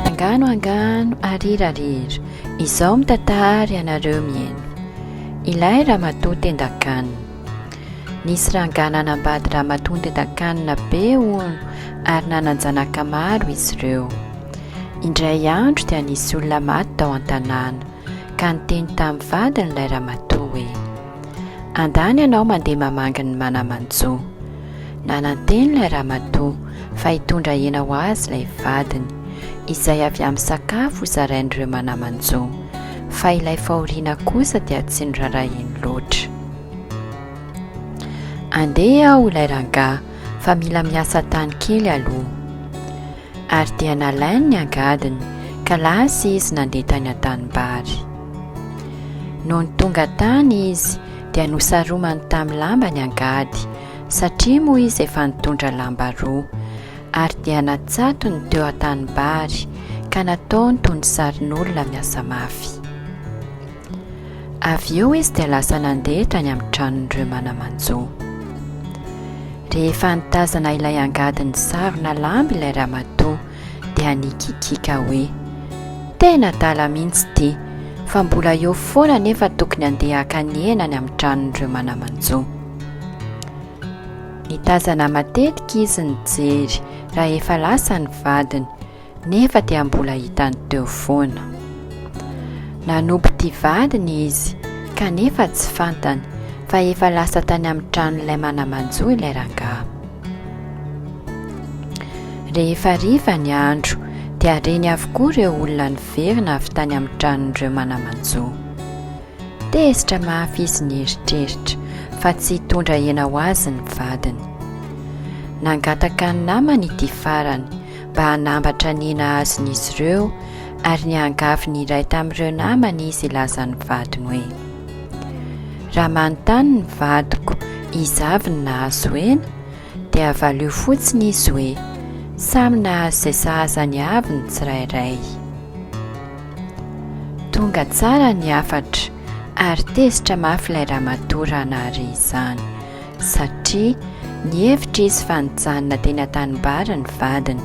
Angano angano arira arira izao mitatahary ianareo mieno ilay ramatoa tendakanina nisy rangah nanambady ramatoa tendakanina be hono ary nanan-janaka maro izy ireo indray andro dia nisy olona maty tao an-tanàna ka niteny tamin'ny vadiny ilay ramatoa hoe, Andany ianao mandeha mamangy ny mana-manjo. Nananteny ilay ramatoa fa hitondra hena ho azy ilay vadiny, izay avy amin'ny sakafo hozarain'ireo mana-manjo, fa ilay fahoriana kosa dia tsy norarahiny loatra. Andeha aho ilay rangahy fa mila miasa tany kely aloha. Ary dia nalainy ny angadiny, ka lasa izy nandeha tany an-tanimbary. Nony tonga tany izy, dia nosaromany tamin'ny lamba ny angady, satria moa izy efa nitondra lamba roa. Ary dia natsatony teo an-tanimbary, ka nataony toy ny sarin'olona miasa mafy. Avy eo izy dia lasa nandeha tany amin'ny tranon'ireo mana-manjo. Rehefa nitazana ilay angady nisarona lamba ilay ramatoa dia nikikiaka hoe, Tena adala mihitsy ity, fa mbola eo foana anefa tokony handeha haka ny hena any amin'ny tranon'ireo mana-manjo. Nitazana matetika izy nijery raha efa lasa ny vadiny. Nefa dia mbola hitany teo foana. Nanompo ity vadiny izy kanefa tsy fantany fa efa lasa tany amin'ny tranon'ilay mana-manjo ilay rangahy. Rehefa hariva ny andro dia reny avokoa ireo olona niverina avy tany amin'ny tranon'ireo mana-manjo. Tezitra mafy izy nieritreritra fa tsy hitondra hena ho azy ny vadiny. Nangataka ny namany ity farany mba hanambatra ny nahazin'izy ireo ary niangavy ny iray tamin'ireo namany izy hilazan'ny vadiny hoe raha manontany ny vadiko izy avy ny nahazo hena dia valio fotsiny izy hoe samy nahazo izay sahazany avy ny tsirairay tonga tsara ny hafatra ary tezitra mafy ilay ramatoa raha nahare izany satria nihevitra izy fa nijanona teny an-tanimbary ny vadiny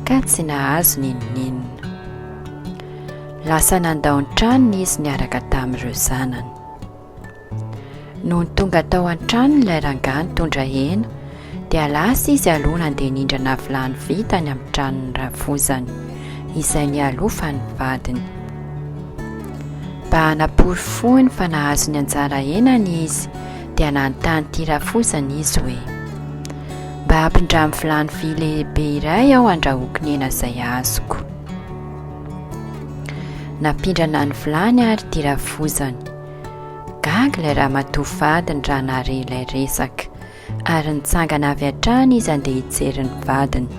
ka tsy nahazo n'inon'inona. Lasa nandao ny tranony izy niaraka tamin'ireo zanany. Nony tonga tao an-tranony ilay rangahy nitondra hena dia lasa izy aloha nandeha nindrana vilany vy tany amin'ny tranon'ny rafozany izay nialofa ny vadiny. Mba hanaporofoany fa nahazo ny anjara henany izy dia nanontany ity rafozana izy hoe, Mba ampindramo vilany vy lehibe iray aho handrahoako ny hena izay azoko. Nampindrana ny vilany ary ity rafozana. Gaga ilay ramatoa vadiny raha nahare ilay resaka, ary nitsangana avy hatrany izy handeha hijery ny vadiny.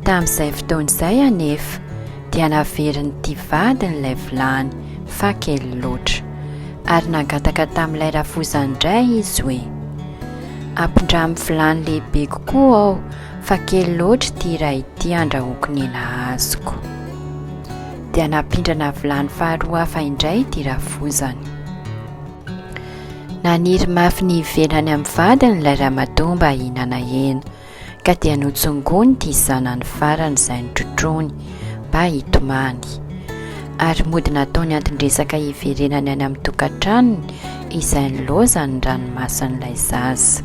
Tamin'izay fotoana izay anefa dia naverin'ity vadiny ilay vilany fa kely loatra, ary nangataka tamin'ilay rafoza indray izy hoe, Ampindramo vilany lehibe kokoa aho fa kely loatra ity iray ity andrahoako ny hena azoko. Dia nampindrana vilany faharoa hafa indray ity rafozany. Naniry mafy ny hivelany amin'ny vadiny ilay ramatoa mba hihinana hena. Ka dia notsongony ity zanany farany izay notrotroiny mba hitomany. Ary mody nataony anton-dresaka hiverenany any amin'ny tokantranony izay nilaozan'ny ranomasin'ilay zaza.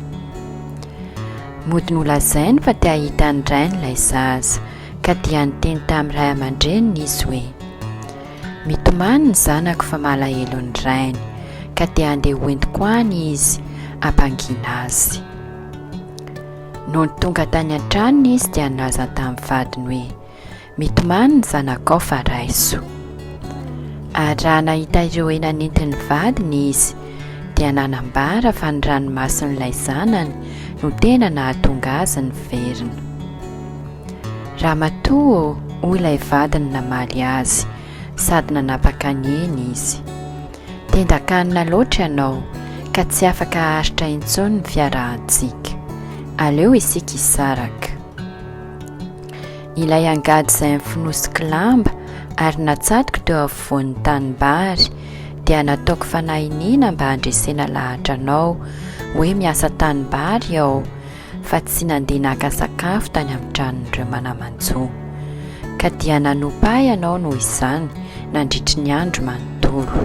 Mody nolazainy fa te hahita ny rainy ilay zaza, ka dia niteny tamin'ny ray aman-dreniny izy hoe, Mitomany ny zanako fa malahelo ny rainy, ka dia andeha hoentiko any izy hampangiana azy. Nony tonga tany an-tranony izy dia nilaza tamin'ny vadiny hoe, Mitomany ny zanakao fa raiso. Ary raha nahita ireo hena nentin'ny vadiny izy, dia nanambara fa ny ranomason'ilay zanany no tena nahatonga azy niverina. Ramatoa ô, hoy ilay vadiny namaly azy, sady nanapaka ny eny izy. Tendan-kanina loatra ianao ka tsy afaka haharitra intsony ny fiarahantsika. Aleo isika hisaraka. Ilay angady izay nofonosiko lamba ary natsatoko teo afovoan'ny tanimbary dia nataoko fanahiniana mba handresena lahatra anao hoe miasa tanimbary aho fa tsy nandeha naka sakafo tany amin'ny tranon'ireo mana-manjo, ka dia nanompa ahy ianao noho izany nandritry ny andro manontolo.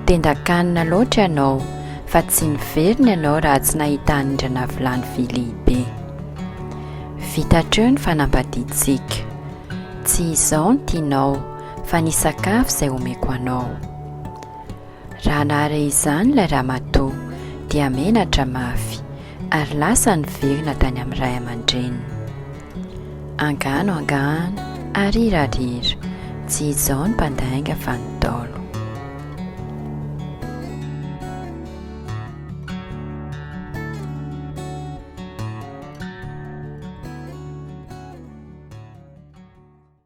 Tendan-kanina loatra ianao, fa tsy niverina ianao raha tsy nahita anindrana vilany vy lehibe. Vita hatreo ny fanambadiantsika. Tsy izao no tianao, fa ny sakafo izay omeko anao. Raha nahare izany ilay ramatoa dia menatra mafy ary lasa niverina tany amin'ny ray aman-dreniny. Angano angano ary hirariera, tsy izao ny mpandainga fa ny Ntaolo.